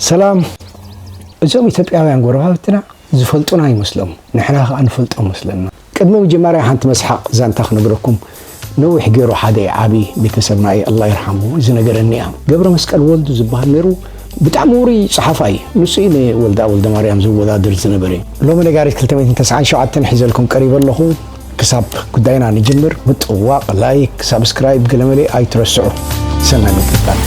ሰላም እዞም ኢትዮጵያውያን ጎረባብትና ዝፈልጡና ይመስሎም ንሕና ከዓ ንፈልጦ መስለና ቅድሚ መጀመርያ ሓንቲ መስሓቅ ዛንታ ክነግረኩም ነዊሕ ገይሩ ሓደ ዓብዪ ቤተሰብና እዩ ኣላ ይርሓሙ ዝነገረኒ እያ ገብረ መስቀል ወልዱ ዝበሃል ነይሩ ብጣዕሚ ውሩይ ፀሓፋ እዩ ንሱ እዩ ንወልዳ ወልደ ማርያም ዝወዳድር ዝነበረ ሎሚ ነጋሪት 297 ሒዘልኩም ቀሪበ ኣለኹ ክሳብ ጉዳይና ንጅምር ምጥዋቕ፣ ላይክ፣ ሳብስክራይብ ገለመለ ኣይትረስዑ። ሰናይ ምክትታል።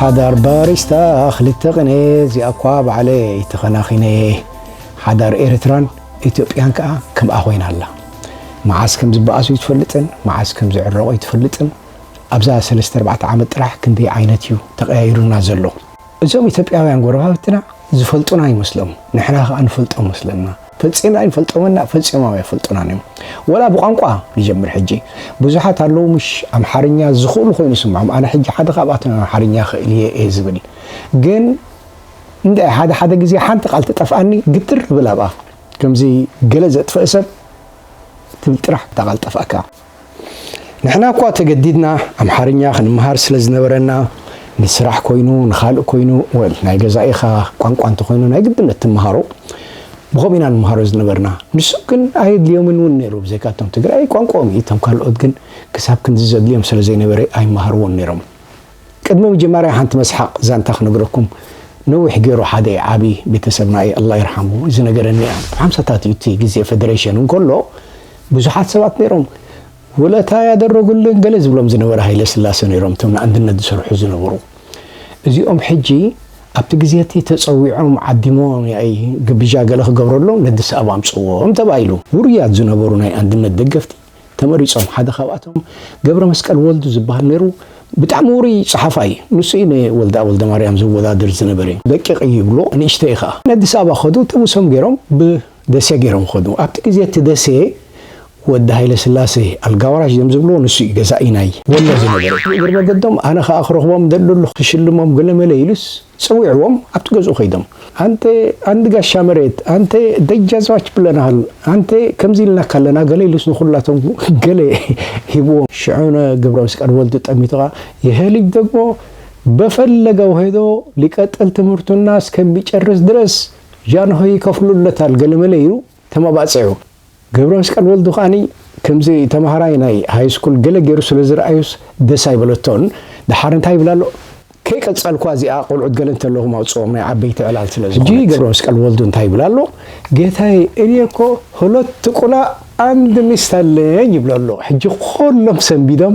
ሓዳር ባሪስታ ክልተ ቅነ እዚኣ እኳ ባዕለ ይተኸናኺነ ሓዳር ኤርትራን ኢትዮጵያን ከዓ ከምኣ ኮይና ኣላ መዓስ ከም ዝበኣሱ ይትፈልጥን መዓስ ከም ዝዕረቑ ይትፈልጥን ኣብዛ ሰለስተ ኣርባዕተ ዓመት ጥራሕ ክንደይ ዓይነት እዩ ተቀያይሩና ዘሎ እዞም ኢትዮጵያውያን ጎረባብትና ዝፈልጡና ይመስሎም ንሕና ከኣ ንፈልጦም መስለና ፈጺምና ኣይንፈልጦምን እና ፈጺሞም ኣይፈልጡናን እዮም ወላ ብቋንቋ ንጀምር ሕጂ ብዙሓት ኣለዉ ምሽ ኣምሓርኛ ዝኽእሉ ኮይኑ ይስምዖም ኣነ ሕጂ ሓደ ካብኣቶም ኣምሓርኛ ክእል እየ እየ ዝብል ግን እንደ ሓደ ሓደ ግዜ ሓንቲ ቃል ትጠፍኣኒ ግትር ብል ኣብኣ ከምዚ ገለ ዘጥፍእ ሰብ ትብል ጥራሕ እታ ቃል ጠፍኣካ ንሕና እኳ ተገዲድና ኣምሓርኛ ክንምሃር ስለ ዝነበረና ንስራሕ ኮይኑ ንኻልእ ኮይኑ ወል ናይ ገዛኢኻ ቋንቋ እንተኾይኑ ናይ ግድነት ትምሃሮ ብኸምኡ ኢና ንምሃሮ ዝነበርና ንሱ ግን ኣየድልዮምን እውን ነይሩ ብዘይካ እቶም ትግራይ ቋንቋኦም እዩ እቶም ካልኦት ግን ክሳብ ክንዚ ዘድልዮም ስለ ዘይነበረ ኣይመሃርዎን ነይሮም ቅድሚ ምጅማርያ ሓንቲ መስሓቅ ዛንታ ክነግረኩም ነዊሕ ጌሩ ሓደ ዓቢ ቤተሰብና ኢዩ ኣላ ይርሓሙ ዝነገረኒ ኢያ ኣብ ሓምሳታት ኢዩ እቲ ግዜ ፈደረሽን እንከሎ ብዙሓት ሰባት ነይሮም ውለታ ያደረጉልን ገለ ዝብሎም ዝነበረ ሃይለስላሰ ነይሮም እቶም ንኣንድነት ዝሰርሑ ዝነበሩ እዚኦም ሕጂ ኣብቲ ግዜ እቲ ተጸዊዖም ዓዲሞም ያኢ ግብዣ ገለ ክገብረሎም ነዲስ ኣበባ ኣምጽዎም ተባሂሉ ውሩያት ዝነበሩ ናይ ኣንድነት ደገፍቲ ተመሪጾም ሓደ ካብኣቶም ገብረመስቀል ወልዱ ዝብሃል ነይሩ ብጣዕሚ ውሩይ ጸሓፋይ እዩ ንሱ እዩ ንወልደኣብ ወልደማርያም ዘወዳድር ዝነበረ እዩ ደቂቅ እዩ ይብልዎ ንእሽተይ ከኣ ንኣዲስ ኣበባ ከዱ ጥምሶም ገይሮም ብደሴ ገይሮም ከዱ ኣብቲ ግዜ እቲ ደሴ ወዲ ሃይለስላሴ ኣልጋወራሽ ዘም ዝብልዎ ንሱ እዩ ገዛኢ ናይ ወሎ ዝነበረ ብእግሪ መገዶም ኣነ ከኣ ክረኽቦም እደሊ ኣለኹ ክሽልሞም ገለመለ ኢሉስ ጸዊዕዎም ኣብቲ ገዝኡ ከይዶም ኣንተ ኣንድ ጋሻ መሬት ኣንተ ደጃዝማች ብለናል ኣንተ ከምዚ ኢልናካ ኣለና ገለ ኢሉስ ንኩላቶም ገለ ሂብዎም። ሽዑ ን ገብረመስቀል ወልዱ ጠሚቱ ከኣ ይሀ ልጅ ደግሞ በፈለገው ሄዶ ሊቀጥል ትምህርቱና እስከሚጨርስ ድረስ ጃንሆይ ይከፍሉለታል ገለመለ ኢሉ ተመባጺዑ። ገብረመስቀል ወልዱ ከኣ ከምዚ ተማሃራይ ናይ ሃይስኩል ገለ ገይሩ ስለ ዝርኣዩስ ደስ ኣይበለቶን። ደሓር እንታይ ይብል ኣሎ? ከይቀጸልኩዋ እዚኣ ቆልዑት ገለ እንተለኹም ኣውጽኦም ናይ ዓበይቲ ዕላል ስለ ዝኾነት። ሕጂ ገብረመስቀል ወልዱ እንታይ ይብል ኣሎ? ጌታየ እኔ እኮ ሁለት ቁላ ኣንድ ሚስት ኣለኝ ይብሎ ኣሎ። ሕጂ ኩሎም ሰንቢዶም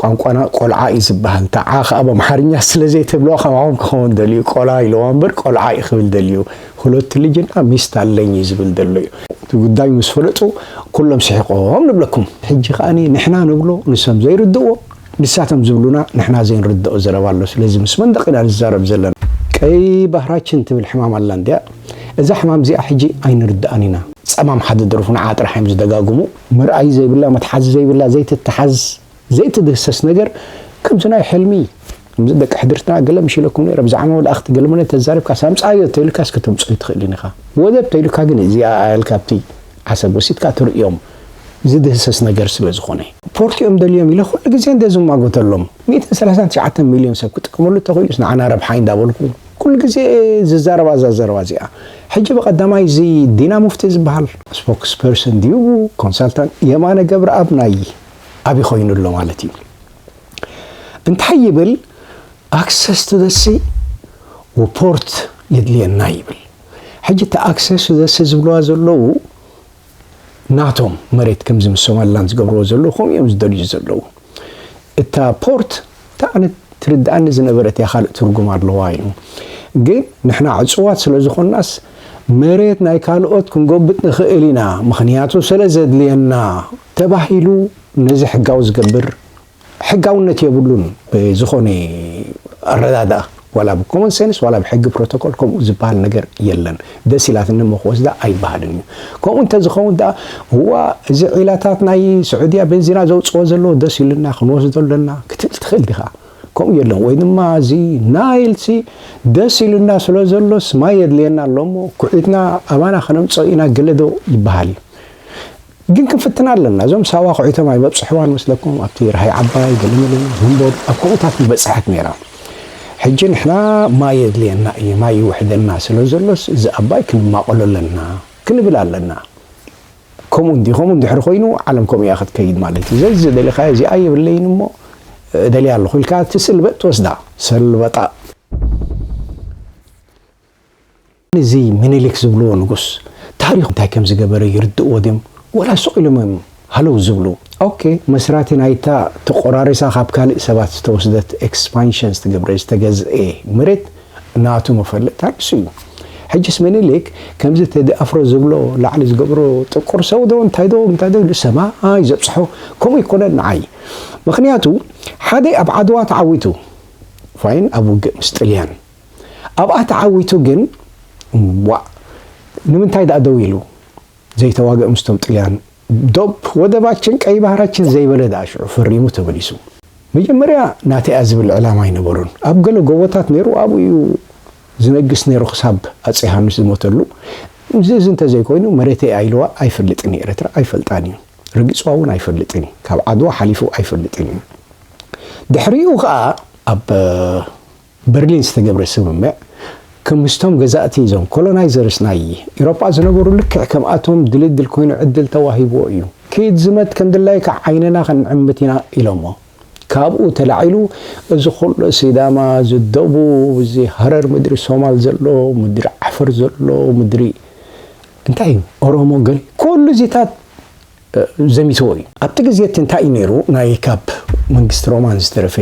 ቋንቋና ቆልዓ እዩ ዝበሃል ተዓ ከኣ በምሓርኛ ስለ ዘይትብሎ ከማኹም ክኸውን ደልዩ ቆላ ኢልዋ እምበር ቆልዓ እዩ ክብል ደልዩ ሁለት ልጅና ሚስት ኣለኝ እዩ ዝብል ዘሎ እዩ እቲ ጉዳይ ምስ ፈለጡ ኩሎም ስሒቆም ንብለኩም ሕጂ ከኣ ንሕና ንብሎ ንሶም ዘይርድእዎ ንሳቶም ዝብሉና ንሕና ዘይንርድኦ ዘረባ ኣሎ ስለዚ ምስ መንደቕ ኢና ንዛረብ ዘለና። ቀይ ባህራችን ትብል ሕማም ኣላ እንድያ እዛ ሕማም እዚኣ ሕጂ ኣይንርድኣን ኢና። ጸማም ሓደ ደርፉ ንዓ ጥራሕ እዮም ዝደጋግሙ። መርኣዪ ዘይብላ መትሓዚ ዘይብላ ዘይትትሓዝ ዘይትድህሰስ ነገር ከምዚ ናይ ሕልሚ ከምዚ ደቂ ሕድርትና ገለ ምሽ ኢለኩም ነይረ ብዛዕባ መላእኽቲ ገለ መለ ተዛሪብካስ ኣምጻዮ ተኢልካስ ከተምጽኦ ኣይትኽእልን ኢኻ ወደብ ተኢልካ ግን እዚኣ ኣያልካ ኣብቲ ዓሰብ ወሲድካ ትርእዮም ዝድህሰስ ነገር ስለ ዝኾነ ፖርት እዮም ደልዮም ኢለ ኩሉ ግዜ እንደ ዝማጎተሎም ሚእትን ሰላሳን ትሽዓተን ሚልዮን ሰብ ክጥቀመሉ እንተኽኢሉስ ንዓና ረብሓ እዩ እንዳበልኩ ኩሉ ግዜ እየ ዝዛረባ እዛ ዘረባ እዚኣ ሕጂ ብቀዳማይ እዚ ዲና ሙፍቲ ዝብሃል ስፖክስ ፐርሰን ድዩ ኮንሳልታንት የማነ ገብረኣብ ናይ ኣብይ ኮይኑ ኣሎ ማለት እዩ እንታይ ይብል ኣክሰስ ቱ ዘ ሲ ፖርት የድልየና ይብል ሕጂ እቲ ኣክሰስ ቱ ዘ ሲ ዝብልዋ ዘለዉ ናቶም መሬት ከምዚ ምስ ሶማሊላንድ ዝገብርዎ ዘለዉ ከምኡ እዮም ዝደልዩ ዘለዉ። እታ ፖርት እንታይ ዓይነት ትርድኣኒ ዝነበረት እያ ካልእ ትርጉም ኣለዋ እዩ ግን ንሕና ዕፅዋት ስለ ዝኾናስ መሬት ናይ ካልኦት ክንጎብጥ ንኽእል ኢና ምኽንያቱ ስለ ዘድልየና ተባሂሉ ነዚ ሕጋዊ ዝገብር ሕጋውነት የብሉን ብዝኾነ ኣረዳድኣ ዋላ ብ ኮመን ሰንስ ዋላ ብ ሕጊ ፕሮቶኮል ከምኡ ዝበሃል ነገር የለን ደስ ኢላትኒ እሞ ክወስዳ ኣይበሃልን እዩ ከምኡ እንተዝኸውን ደኣ እዋ እዚ ዒላታት ናይ ስዑድያ ቤንዚና ዘውጽኦ ዘለዎ ደስ ኢሉና ክንወስዶ ኣለና ክትብል ትኽእል ዲኻ ከምኡ የለን ወይ ድማ እዚ ናይልሲ ደስ ኢሉና ስለ ዘሎስ ማይ የድልየና ኣሎ እሞ ኩዒትና ኣባና ከነምጽኦ ኢና ገለዶ ይበሃል እዩ ግን ክንፍትና ኣለና እዞም ሳዋ ኩዒቶም ኣይበብጽሕዋን መስለኩም ኣብቲ ራሃይ ዓባይ ገለመለ ዘንቦብ ኣብ ከምኡታት ምበጽሐት ነይራ ሕጂ ንሕና ማይ የድልየና እዩ ማይ ይውሕደና ስለ ዘሎስ እዚ ኣባይ ክንማቐሎ ኣለና ክንብል ኣለና ከምኡ እንዲ ከምኡ እንድሕሪ ኮይኑ ዓለም ከምኡ እያ ክትከይድ ማለት እዩ ዘዚ ዝደሊኻዮ እዚኣ የብለይን እሞ እደልያ ኣለኹ ኢልካ እቲ ስልበጥ ትወስዳ ሰልበጣ እዚ ምኒልክ ዝብልዎ ንጉስ ታሪኹ እንታይ ከም ዝገበረ ይርድእዎ ድዮም ወላ ሱቕ ኢሎም እዮም ሃለው ዝብሉ? ኦኬ መስራቲ ናይታ ተቆራሪሳ ካብ ካልእ ሰባት ዝተወስደት ኤክስፓንሽን ዝተገብረ ዝተገዝኤ መሬት ናቱ መፈለጥታ ንሱ እዩ ሕጅስ ምኒልክ ከምዚ ቴዲ ኣፍሮ ዝብሎ ላዕሊ ዝገብሮ ጥቁር ሰው ዶ እንታይ ዶ እንታይ ዶ ንሰማይ ዘብጽሖ ከምኡ ኣይኮነን ንዓይ ምኽንያቱ ሓደ ኣብ ዓድዋ ተዓዊቱ ፋይን ኣብ ውግእ ምስ ጥልያን ኣብኣ ተዓዊቱ ግን ዋእ ንምንታይ ድኣ ደው ኢሉ ዘይተዋግእ ምስቶም ጥልያን ዶብ ወደባችን ቀይ ባህራችን ዘይበለ ድኣ ሽዑ ፈሪሙ ተመሊሱ። መጀመርያ ናተይ እያ ዝብል ዕላማ ኣይነበሮን ኣብ ገለ ጎቦታት ነይሩ ኣብኡ እዩ ዝነግስ ነይሩ ክሳብ ኣፄ ዮሃንስ ዝሞተሉ እዚ እዚ እንተዘይኮይኑ መሬተይ እያ ኢልዋ ኣይፈልጥን እዩ ኤረትራ ኣይፈልጣን እዩ ረጊፅዋ እውን ኣይፈልጥን እዩ ካብ ዓድዋ ሓሊፉ ኣይፈልጥን እዩ ድሕሪኡ ከዓ ኣብ በርሊን ዝተገብረ ስምምዕ ክምስቶም ገዛእቲ እዞም ኮሎናይዘርስ ናይ ኢሮጳ ዝነበሩ ልክዕ ከምኣቶም ድልድል ኮይኑ ዕድል ተዋሂብዎ እዩ ኪድ ዝመት ከምድላይካ ዓይንና ክንዕምት ኢና ኢሎሞ ካብኡ ተላዒሉ እዚ ኩሉ ሲዳማ እዚ ደቡብ እዚ ሃረር ምድሪ ሶማል ዘሎ ምድሪ ዓፈር ዘሎ ምድሪ እንታይ እዩ ኦሮሞ ገል ኩሉ እዚታት ዘሚትዎ እዩ። ኣብቲ ግዜ እቲ እንታይ እዩ ነይሩ ናይ ካብ መንግስቲ ሮማን ዝተረፈ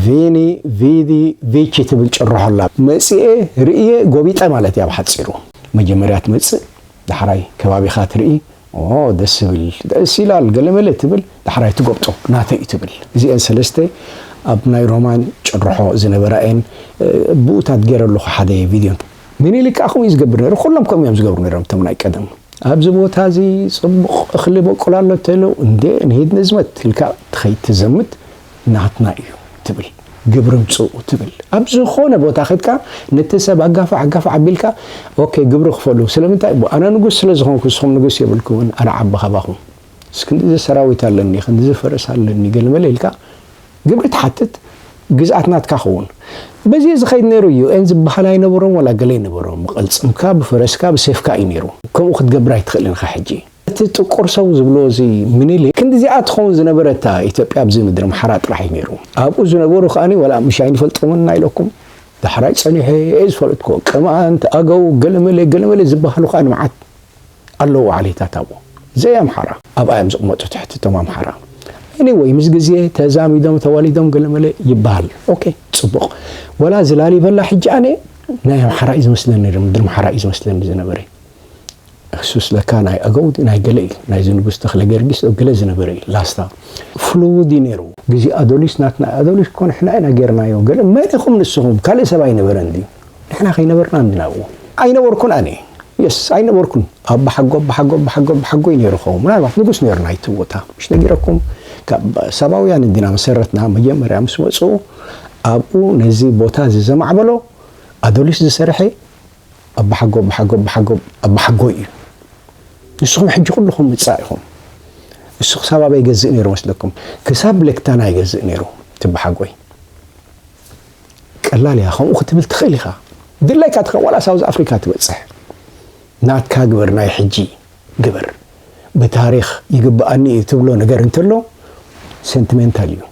ቪኒ ቪዲ ቪቺ ትብል ጭርሖ ኣላ መጺኤ ርእየ ጎቢጠ ማለት እያ ብሓጺሩ። መጀመርያ ትመጽእ ዳሕራይ ከባቢኻ ትርኢ ኦሆ ደስ ዝብል ደስ ይላል ገለመለ ትብል ዳሕራይ ትጎብጦ ናተይ እዩ ትብል እዚኤን ሰለስተ ኣብ ናይ ሮማን ጭርሖ ዝነበራ እየን ብኡታት ጌረ ኣለኹ ሓደ ቪድዮ ምኒልክ ከኣ ከምኡ እዩ ዝገብር ነይሩ፣ ኩሎም ከምኡ እዮም ዝገብሩ ነይሮም እቶም ናይ ቀደም። ኣብዚ ቦታ እዚ ጽቡቕ እኽሊ በቊሉ ኣሎ ተለው፣ እንዴ ንሂድ ንዝመት ኢልካ ትኸይድ ትዘምት ናትና እዩ ትብል፣ ግብሪ ምጽኡ ትብል። ኣብ ዝኾነ ቦታ ከድካ ነቲ ሰብ ኣጋፋዕ ኣጋፋዕ ኣቢልካ ኦኬ ግብሪ ክፈሉ፣ ስለምንታይ ኣነ ንጉስ ስለ ዝኾንኩ ንስኹም ንጉስ የብልኩምን፣ ኣነ ዓቢ ካባኹም፣ ክንድዚ ሰራዊት ኣለኒ፣ ክንድዚ ፈረስ ኣለኒ ገለመለ ኢልካ፣ ግብሪ ትሓትት ግዝኣት ናትካ ክውን በዜ ዝኸይድ ነይሩ እዩ ን ዝበሃል ኣይነበሮን ዋላ ገለ ይነበሮ ብቕልጽምካ ብፈረስካ ብሴፍካ እዩ ነይሩ ከምኡ ክትገብር ኣይትኽእልን ኢኻ ሕጂ እቲ ጥቁር ሰው ዝብልዎ እዚ ምኒሊክ ክንድዚኣ ትኸውን ዝነበረታ ኢትዮጵያ ኣብዚ ምድሪ ኣምሓራ ጥራሕ እዩ ነይሩ ኣብኡ ዝነበሩ ከኣ ዋላ ምሽ ኣይንፈልጦምን ኢና ኢለኩም ዳሕራይ ጸኒሐ እየ ዝፈለጥኩ ቅማንት ኣገው ገለመለ ገለመለ ዝበሃሉ ከኣ መዓት ኣለዉ ዓሌታት ኣብኡ ዘይ ኣምሓራ። ኣብኣ እዮም ዝቕመጡ ትሕቲ እቶም ኣምሓራ። Anyway ምስ ግዜ ተዛሚዶም ተዋሊዶም ገለመለ ይበሃል ኦኬ ጽቡቕ ወላ እዚ ላሊበላ ሕጂ ኣነ ናይ ኣምሓራ እዩ ዝመስለኒ ነይሩ ምድሪ ኣምሓራ እዩ ዝመስለኒ ዝነበረ እሱስ ለካ ናይ ኣገው ድዩ ናይ ገለ እዩ ናይዚ ንጉስ ተኽለ ገርጊስ ዶ ገለ ዝነበረ እዩ ላስታ ፍሉውድ እዩ ነይሩ ግዜ ኣዶሊስ ናትና ኣዶሊስ እኮ ንሕና ኢና ጌርናዮ ገለ መን ኢኹም ንስኹም ካልእ ሰብ ኣይነበረን ድዩ ንሕና ከይነበርና እንድና ኣብኡ። ኣይነበርኩን ኣነ የስ ኣይነበርኩን ኣባሓጎ ኣባሓጎ ኣባሓጎ ኣባሓጎይ ነይሩ ኸውን ምናልባት ንጉስ ነይሩ ናይቲ ቦታ ምሽ ነጊረኩም ካብ ሳባውያን እንዲና መሰረትና መጀመርያ ምስ መፁ ኣብኡ ነዚ ቦታ እዚ ዘማዕበሎ ኣዶሊስ ዝሰርሐ ኣባሓጎ ኣባሓጎ ኣባሓጎ ኣባሓጎይ እዩ ንስኹም ሕጂ ኩልኹም ምፃእ ኢኹም ንሱ ክሳብ ኣበይ ይገዝእ ነይሩ መስለኩም ክሳብ ሌክታና ይገዝእ ነይሩ ትበሓጎይ ቀላል እያ ከምኡ ክትብል ትኽእል ኢኻ ድላይካ ትኸ ዋላ ሳውዝ ኣፍሪካ ትበፅሕ ናትካ ግበር ናይ ሕጂ ግበር ብታሪኽ ይግበኣኒ እዩ ትብሎ ነገር እንተሎ ሰንትሜንታል እዩ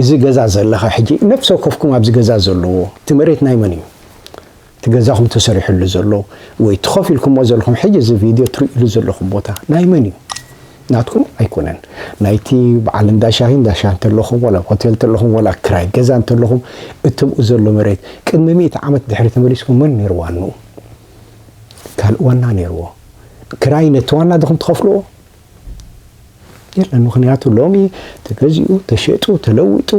እዚ ገዛ ዘለኻ ሕጂ ነፍሲ ወከፍኩም ኣብዚ ገዛ ዘለዎ እቲ መሬት ናይ መን እዩ እቲ ገዛኹም ተሰሪሑሉ ዘሎ ወይ እቲ ኮፍ ኢልኩሞ ዘለኹም ሕጂ እዚ ቪድዮ ትርእይሉ ዘለኹም ቦታ ናይ መን እዩ? ናትኩም ኣይኮነን። ናይቲ በዓል እንዳ ሻሂ እንዳ ሻሂ እንተለኹም ወላ ኣብ ሆቴል እንተለኹም ወላ ክራይ ገዛ እንተለኹም እቲ ብኡ ዘሎ መሬት ቅድሚ ሚእቲ ዓመት ድሕሪ ተመሊስኩም መን ነይሩ ዋንኡ? ካልእ ዋና ነይርዎ። ክራይ ነቲ ዋና ድኹም ትኸፍልዎ? የለን። ምክንያቱ ሎሚ ተገዚኡ ተሸጡ ተለዊጡ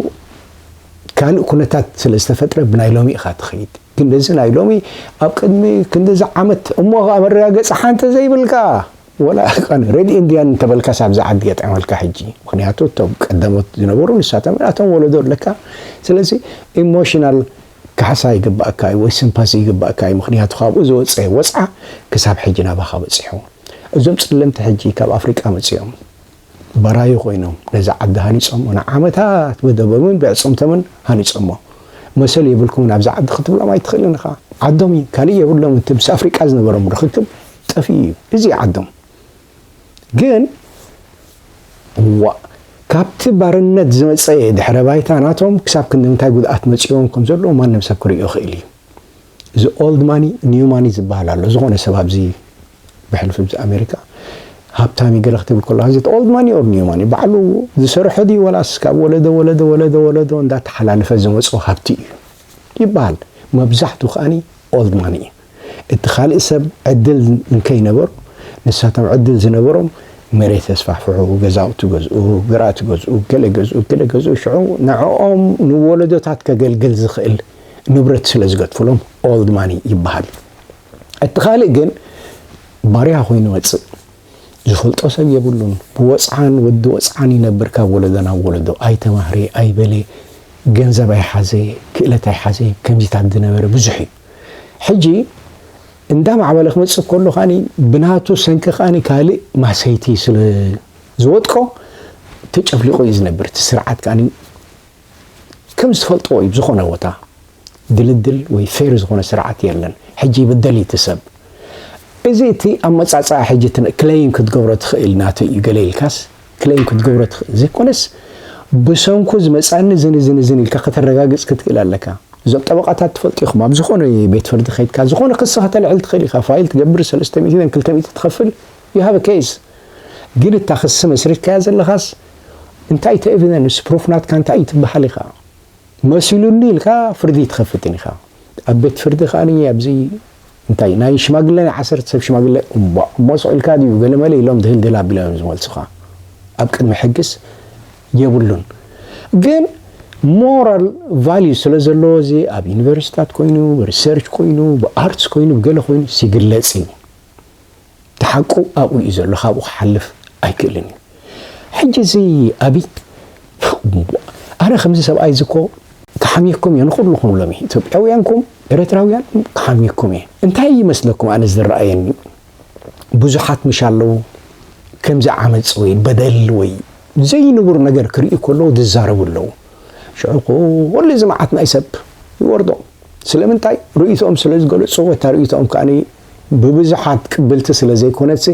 ካልእ ኩነታት ስለ ዝተፈጥረ ብናይ ሎሚ ኢኻ ትኸይድ ግን እዚ ናይ ሎሚ ኣብ ቅድሚ ክንዲዚ ዓመት እሞ ከዓ መረጋገፂ ሓንቲ ዘይብልካ ወላ ረድ ኢንድያን እንተበልካስ ኣብዚ ዓዲ የጥዕመልካ ሕጂ ምክንያቱ እቶም ቀዳሞት ዝነበሩ ንሳቶም እቶም ወለዶ ኣለካ ስለዚ ኢሞሽናል ካሕሳ ይግባኣካ እዩ ወይ ስንፓሲ ይግባኣካ እዩ ምኽንያቱ ካብኡ ዝወጸ ወጽዓ ክሳብ ሕጂ ናባኻ በጺሑ እዞም ጸለምቲ ሕጂ ካብ ኣፍሪቃ መጺኦም ባራዩ ኮይኖም ነዛ ዓዲ ሃኒጾሞ ንዓመታት ብደቦምን ብዕጽምቶምን ሃኒጾሞ መሰል የብልኩምን ኣብዛ ዓዲ ክትብሎም ኣይትኽእልን ኢኻ ዓዶም እዩ ካልእ የብሎምን እቲ ምስ ኣፍሪቃ ዝነበሮም ርኽክብ ጠፊኡ እዩ እዚ እዩ ዓዶም ግን ዋእ ካብቲ ባርነት ዝመጸ ድሕረ ባይታ ናቶም ክሳብ ክንደምንታይ ጉድኣት መጺዎም ከም ዘለዎ ማንም ሰብ ክርእዮ ይኽእል እዩ። እዚ ኦልድ ማኒ ኒው ማኒ ዝበሃል ኣሎ። ዝኾነ ሰብ ኣብዚ ብሕልፊ ብዚ ኣሜሪካ ሃብታም ይገለ ክትብል ከሎ ኣዚ ኦልድ ማኒ ኦር ኒው ማኒ ባዕሉ ዝሰርሖ ድዩ ወላስ ካብ ወለዶ ወለዶ ወለዶ ወለዶ እንዳተሓላለፈ ዝመጾ ሃብቲ እዩ ይበሃል። መብዛሕቱ ከኣኒ ኦልድ ማኒ እዩ። እቲ ካልእ ሰብ ዕድል እንከይነበሮ ንሳቶም ዕድል ዝነበሮም መሬት ኣስፋሕፍሑ፣ ገዛውቲ ገዝኡ፣ ግራቲ ገዝኡ፣ ገለ ገዝኡ፣ ገለ ገዝኡ ሽዑ ንዕኦም ንወለዶታት ከገልግል ዝኽእል ንብረት ስለ ዝገድፉሎም ኦልድ ማኒ ይበሃል። እቲ ካልእ ግን ባርያ ኮይኑ ይመጽእ። ዝፈልጦ ሰብ የብሉን። ብወጽዓን ወዲ ወጽዓን ይነብር ካብ ወለዶ ናብ ወለዶ። ኣይተማህረ ኣይበለ፣ ገንዘብ ኣይሓዘ፣ ክእለት ኣይሓዘ፣ ከምዚታት ዝነበረ ብዙሕ እዩ። ሕጂ እንዳ ማዕበለ ክመጽእ ከሎ ከኣ ብናቱ ሰንኪ ከኣ ካልእ ማሰይቲ ስለ ዝወጥቆ ተጨፍሊቑ እዩ ዝነብር እቲ ስርዓት ከኣ ከም ዝፈልጥዎ እዩ ዝኾነ ቦታ ድልድል ወይ ፌር ዝኾነ ስርዓት የለን ሕጂ ይብደል እዩ ትሰብ እዚ እቲ ኣመጻጽኣ ሕጂ ክለይም ክትገብሮ ትኽእል ናተይ እዩ ገለ ኢልካስ ክሌም ክትገብሮ ትኽእል ዘይኮነስ ብሰንኩ ዝመጽኣኒ እዝን እዝን እዝን ኢልካ ከተረጋግጽ ክትክእል ኣለካ። እዞም ጠበቓታት ትፈልጡ ኢኹም ኣብ ዝኾነ ቤት ፍርዲ ከይድካ ዝኾነ ክሲ ከተልዕል ትኽእል ኢኻ ፋይል ትገብር ሰለስተ ሚእቲ ን ክልተ ሚእቲ ትኸፍል you have a case ግን እታ ክሲ መስሪትካያ ዘለኻስ እንታይ እቲ ኤቪደንስ ፕሩፍ ናትካ እንታይ እዩ ትበሃል ኢኻ። መሲሉኒ ኢልካ ፍርዲ ኣይትኸፍትን ኢኻ ኣብ ቤት ፍርዲ ከኣ ኣብዚ እንታይ ናይ ሽማግለ ናይ ዓሰርተ ሰብ ሽማግለ እምቧእ እሞ ስቕ ኢልካ ድዩ ገለመለ ኢሎም ድህልድል ኣቢሎም እዮም ዝመልሱኻ ኣብ ቅድሚ ሕግስ የብሉን ግን ሞራል ቫልዩ ስለ ዘለዎ እዚ ኣብ ዩኒቨርሲታት ኮይኑ ሪሰርች ኮይኑ ብኣርትስ ኮይኑ ብገለ ኮይኑ ሲግለጽ እዩ እቲ ሓቁ ኣብኡ እዩ ዘሎ ካብኡ ክሓልፍ ኣይክእልን እዩ ሕጂ እዚ ኣብይ ኣረ ከምዚ ሰብኣይ እዚ እኮ ክሓምየኩም እየ ንኹልኹም ሎሚ ኢትዮጵያውያንኩም ኤረትራውያን ክሓምየኩም እየ እንታይ ይመስለኩም ኣነ ዝረኣየኒ ብዙሓት ምሽ ኣለዉ ከምዚ ዓመፅ ወይ በደል ወይ ዘይንቡር ነገር ክርእዩ ከለዉ ዝዛረቡ ኣለዉ ሽዑ ኩሉ እዚ መዓት ናይ ሰብ ይወርዶም ስለምንታይ ርእይቶኦም ስለ ዝገለፁ ወታ ርእይቶኦም ከኣ ብብዙሓት ቅብልቲ ስለ ዘይኮነትሲ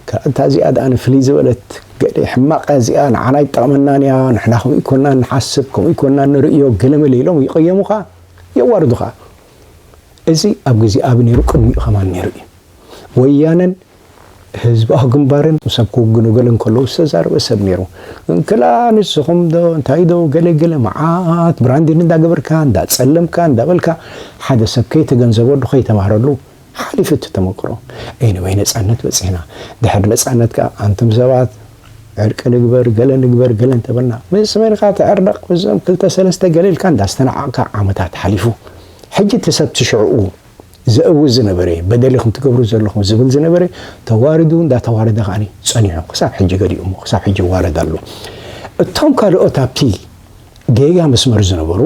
ከኣ እታ እዚኣ ደኣ ንፍልይ ዝበለት ገለ ሕማቕ እያ እዚኣ ንዓና ኣይትጠቕመናን እያ ንሕና ከምኡ ኣይኮናን ንሓስብ ከምኡ ኣይኮናን ንርእዮ ገለመለ ኢሎም ይቕየሙኻ የዋርዱኻ እዚ ኣብ ግዜ ኣቢ ነይሩ ቅድሚኡ ከማን ነይሩ እዩ ወያነን ህዝባዊ ግንባርን ምስ ኣብ ክውግኑ ገለ እንከለዉ ዝተዛረበ ሰብ ነይሩ። እንክላ ንስኹም ዶ እንታይ ዶ ገለ ገለ መዓት ብራንዲን እንዳገበርካ እንዳጸለምካ እንዳበልካ ሓደ ሰብ ከይተገንዘበሉ ከይተማህረሉ ሓሊፉ እቲ ተመክሮ። Anyway ነጻነት በጺሕና። ድሕሪ ነጻነት ከኣ ኣንቱም ሰባት ዕርቂ ንግበር ገለ ንግበር ገለ እንተበልና ምስ መን ኢኻ ትዕረቕ ምስዞም ክልተ ሰለስተ ገለ ኢልካ እንዳስተናዓቕካ ዓመታት ሓሊፉ። ሕጂ እቲ ሰብ እቲ ሽዕኡ ዘእዊ ዝነበረ በደል ኢኹም ትገብሩ ዘለኹም ዝብል ዝነበረ ተዋርዱ እንዳተዋረደ ከዓኒ ጸኒሑ ክሳብ ሕጂ ገሊኡ እሞ ክሳብ ሕጂ ይዋረድ ኣሎ። እቶም ካልኦት ኣብቲ ጌጋ መስመር ዝነበሩ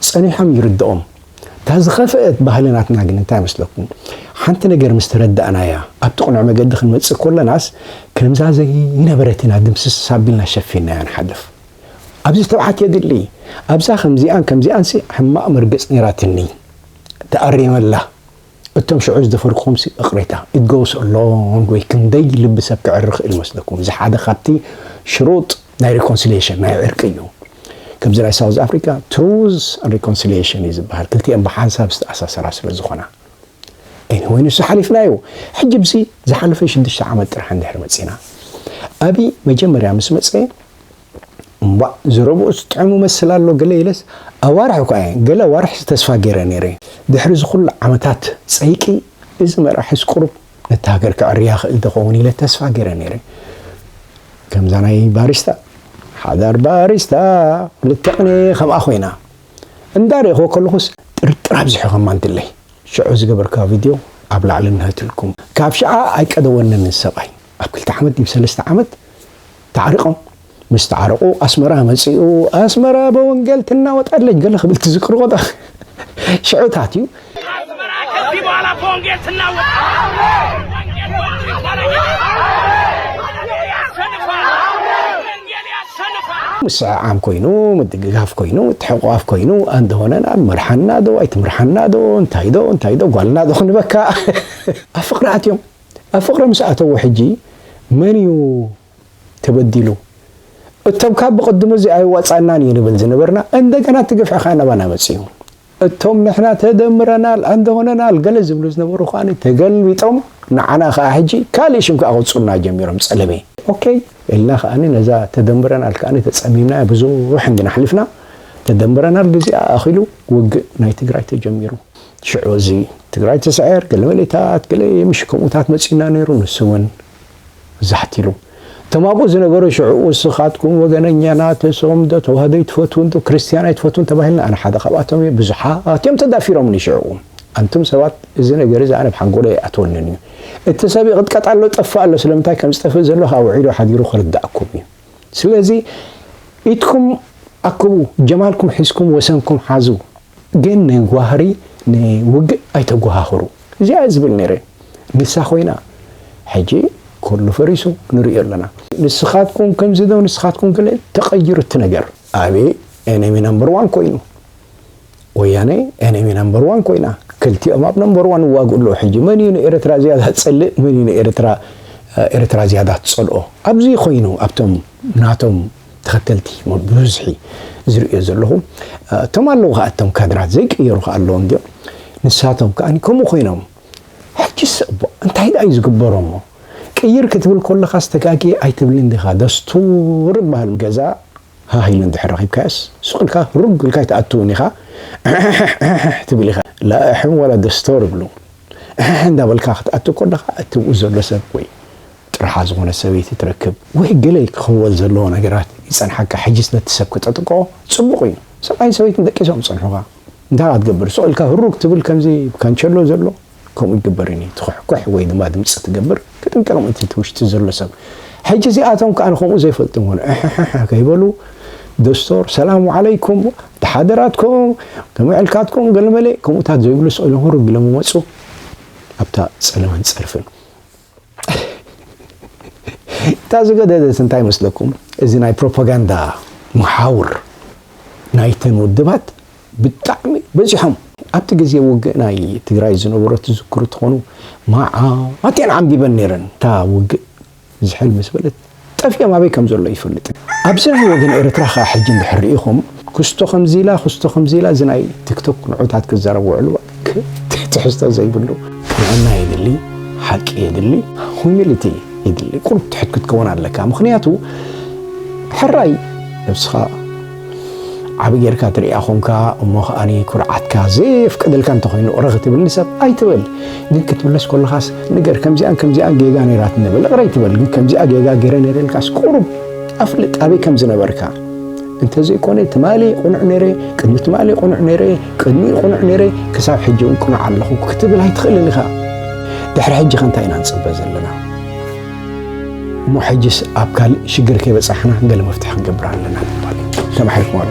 ጸኒሖም ይርድኦም። እታ ዝኸፍአት ባህሊ ናትና ግን እንታይ መስለኩም ሓንቲ ነገር ምስ ተረዳእናያ ኣብቲ ቅኑዕ መገዲ ክንመጽእ ኮለናስ ከምዛ ዘይነበረት ኢና ድምስስ ኣቢልና ሸፊንናያ ንሓልፍ። ኣብዚ ትብዓት የድሊ። ኣብዛ ከምዚኣን ከምዚኣንሲ ሕማቕ መርገጽ ነይራትኒ። ተኣሪመላ እቶም ሽዑ ዝደፈርኩኹምሲ እቕሬታ it goes a long way ክንደይ ልቢ ሰብ ክዕሪ ክእል ይመስለኩም እዚ ሓደ ካብቲ ሽሩጥ ናይ ሪኮንሲሊየሽን ናይ ዕርቂ እዩ ከምዚ ናይ ሳውዝ ኣፍሪካ ትሩዝ ሪኮንሲሊየሽን እዩ ዝበሃል ክልቲኤን ብሓንሳብ ዝተኣሳሰራ ስለ ዝኾና ኤኒወይ ንሱ ሓሊፍና እዩ ሕጂ ብዚ ዝሓለፈ ሽዱሽተ ዓመት ጥራሕ እንድሕር መፂና ኣብይ መጀመርያ ምስ መፀ እምቧእ ዝረብኦ ዝጥዕሙ መስል ኣሎ ገለ ኢለስ ኣዋርሕ እኳ እየ ገለ ኣዋርሕስ ተስፋ ገይረ ነይረ። ድሕሪ እዚ ኩሉ ዓመታት ጸይቂ እዚ መራሒስ ቁሩብ ነታ ሃገር ከዕርያ ይኽእል ዶ ይኸውን ኢለ ተስፋ ገይረ ነይረ። ከምዛ ናይ ባሪስታ ሓዳር ባሪስታ ክልተ ቅኔ ከምኣ ኮይና እንዳ ርኤኽዎ ከለኹስ ጥርጥር ኣብዚሑ ከማንትለይ ሽዑ ዝገበርካዮ ቪድዮ ኣብ ላዕሊ እነሀትልኩም። ካብ ሽዓ ኣይቀደወንን እዚ ሰብኣይ ኣብ ክልተ ዓመት ድዩ ሰለስተ ዓመት ተዓሪቆም ምስ ተዓረቁ ኣስመራ መጺኡ ኣስመራ በወንገል ትናወጥ ኣለች ገለ ክብል ትዝክሩ ቆጣ ሽዑታት እዩ ምስዕዓም ኮይኑ ምድግጋፍ ኮይኑ ትሕቋፍ ኮይኑ ኣንድ ሆነና መርሓና ዶ ኣይትምርሓና ዶ እንታይ ዶ እንታይ ዶ ጓልና ዶ ክንበካ ኣብ ፍቅሪ ኣትዮም ኣብ ፍቅሪ ምስ ኣተዉ ሕጂ መን እዩ ተበዲሉ እቶም ካብ ብቅድሙ እዚ ኣይዋጻናን እዩ ንብል ዝነበርና እንደገና እቲ ግፍዒ ከኣ ናባና መጽዩ እቶም ንሕና ተደምረናል ኣንድ ሆነናል ገለ ዝብሉ ዝነበሩ ከኣ ተገልቢጦም ንዓና ከኣ ሕጂ ካልእ ሽም ከኣ ከውጽኡና ጀሚሮም ጸለመ ኦከይ ኢልና ከኣ ነዛ ተደምረናል ከኣ ተጸሚምናያ ብዙሕ እንድና ኣሕሊፍና ተደምረናል ግዚኣ ኣኺሉ ውግእ ናይ ትግራይ ተጀሚሩ። ሽዑ እዚ ትግራይ ትስዕር ገለ መሌታት ገለ የምሽ ከምኡታት መጺኡና ነይሩ ንሱ እውን ዛሕት ኢሉ እቶም ኣብኡ ዝነበሩ ሽዑ ውስኻትኩም ወገነኛናት እሶም ዶ ተዋህዶ ይትፈትውን ዶ ክርስትያን ኣይትፈትውን ተባሂልና ኣነ ሓደ ካብኣቶም እየ ብዙሓት እዮም ተዳፊሮምኒ ሽዑ ኣንቱም ሰባት እዚ ነገር እዚ ኣነ ብሓንጎሎ ይኣትወንን እዩ እቲ ሰብ ይቕጥቀጥ ኣሎ ጠፋእ ኣሎ ስለምንታይ ከም ዝጠፍእ ዘሎ ኣውዒሉ ሓዲሩ ክርዳእኩም እዩ ስለዚ ኢድኩም ኣክቡ ጀማልኩም ሒዝኩም ወሰንኩም ሓዙ ግን ንዋህሪ ንውግእ ኣይተጓሃህሩ እዚኣ ዝብል ነይረ ንሳ ኮይና ሕጂ ኩሉ ፈሪሱ ንርእዮ ኣለና። ንስኻትኩም ከምዚ ዶ ንስኻትኩም ገለ ተቀይሩ እቲ ነገር። ኣብይ እኔ ነምበር ዋን ኮይኑ። ወያነ ኤነሚ ነምበር ዋን ኮይና ክልቲኦም ኣብ ነምበር ዋን ይዋግኡ ኣለዉ ሕጂ መን እዩ ንኤረትራ ዝያዳ ዝጸልእ መን እዩ ንኤረትራ ኤረትራ ዝያዳ ትጸልኦ ኣብዚ ኮይኑ ኣብቶም ናቶም ተኸተልቲ ብብዝሒ ዝርእዮ ዘለኹ እቶም ኣለዉ ከኣ እቶም ካድራት ዘይቅየሩ ከኣ ኣለዎም ድዮም ንሳቶም ከኣ ከምኡ ኮይኖም ሕጂስ እቦ እንታይ ደኣ እዩ ዝግበሮ እሞ ቅይር ክትብል ኮለኻስ ተጋጊ ኣይትብልን ዲኻ ደስቱር ይበሃል ገዛ ሃህ ኢለን ድሕር ረኺብካየስ ሱቕ ኢልካ ሩግ ኢልካ ኣይትኣትውን ኢኻ ኣሕሕሕሕሕ ትብል ኢኻ ላእሕም ዋላ ደስቶር ይብሉ ኣሕሕ እንዳበልካ ክትኣቱ ኮለኻ እቲ ኣብኡ ዘሎ ሰብ ወይ ጥርሓ ዝኾነት ሰበይቲ ትረክብ ወይ ገለ ክኽወል ዘለዎ ነገራት ይጸንሓካ ሕጂስ ነቲ ሰብ ክተጥቅኦ ጽቡቕ እዩ ሰብኣይን ሰበይትን ደቂሶም ዝጸንሑኻ እንታይ ክትገብር ሱቕ ኢልካ ሩግ ትብል ከምዚ ካንቸሎ ዘሎ ከምኡ ይግበርን እዩ ትኹሕኩሕ ወይ ድማ ድምፂ ትገብር ክጥንቀቕ ምእንቲ እቲ ውሽጢ ዘሎ ሰብ ሕጂ እዚኣቶም ከዓ ከምኡ ዘይፈልጡ ውን ሕሕሕሕ ከይበሉ ደስቶር ሰላም ዓለይኩም ተሓደራትኩም ከመዕልካትኩም ገለመለ ከምኡታት ዘይብሉ ስእሉ ህሩግ ኢሎም ይመፁ ኣብታ ፀለመን ፀርፍን እታ ዝገደደት እንታይ መስለኩም እዚ ናይ ፕሮፓጋንዳ መሓውር ናይተን ውድባት ብጣዕሚ በዚሖም ኣብቲ ግዜ ውግእ ናይ ትግራይ ዝነበሮ ትዝክሩ ትኾኑ መዓት እየን ዓምቢበን ነይረን እታ ውግእ ዝሕል ምስ በለት ጠፊኦም ኣበይ ከም ዘሎ ኣይፈልጥን ኣብዚ ናይ ወገን ኤረትራ ከኣ ሕጂ እንድሕር ሪኢኹም ኩስቶ ከምዚ ኢላ ኩስቶ ከምዚ ኢላ እዚ ናይ ቲክቶክ ንዑታት ክዛረብ ውዕሉ ትሕዝቶ ዘይብሉ። ቅንዕና የድሊ ሓቂ የድሊ humility የድሊ ቁሩብ ትሑት ክትከውን ኣለካ ምኽንያቱ ሕራይ ነብስኻ። ዓቢ ጌርካ ትርእያ ኮንካ እሞ ከኣ ኩርዓትካ ዘየፍቅደልካ እንተኾይኑ ቕረ ክትብል ንሰብ ኣይትበል ግን ክትምለስ ኮለኻስ ንገር ከምዚኣን ከምዚኣን ጌጋ ነይራትኒ በል ቕረ ኣይትበል ግን ከምዚኣ ጌጋ ገረ ነይረ ኢልካስ ቁሩብ ኣፍልጥ ኣበይ ከም ዝነበርካ እንተዘይኮነ ትማሊ ቁኑዕ ነይረ ቅድሚ ትማሊ ቁኑዕ ነይረ ቅድሚ ቁኑዕ ነይረ ክሳብ ሕጂ እውን ቁኑዕ ኣለኹ ክትብል ኣይትኽእልን ኢኻ ድሕሪ ሕጂ ከ እንታይ ኢና ንፅበ ዘለና እሞ ሕጅስ ኣብ ካልእ ሽግር ከይበጻሕና ገለ መፍትሒ ክንገብር ኣለና ትባል ተማሒርኩም ኣሎ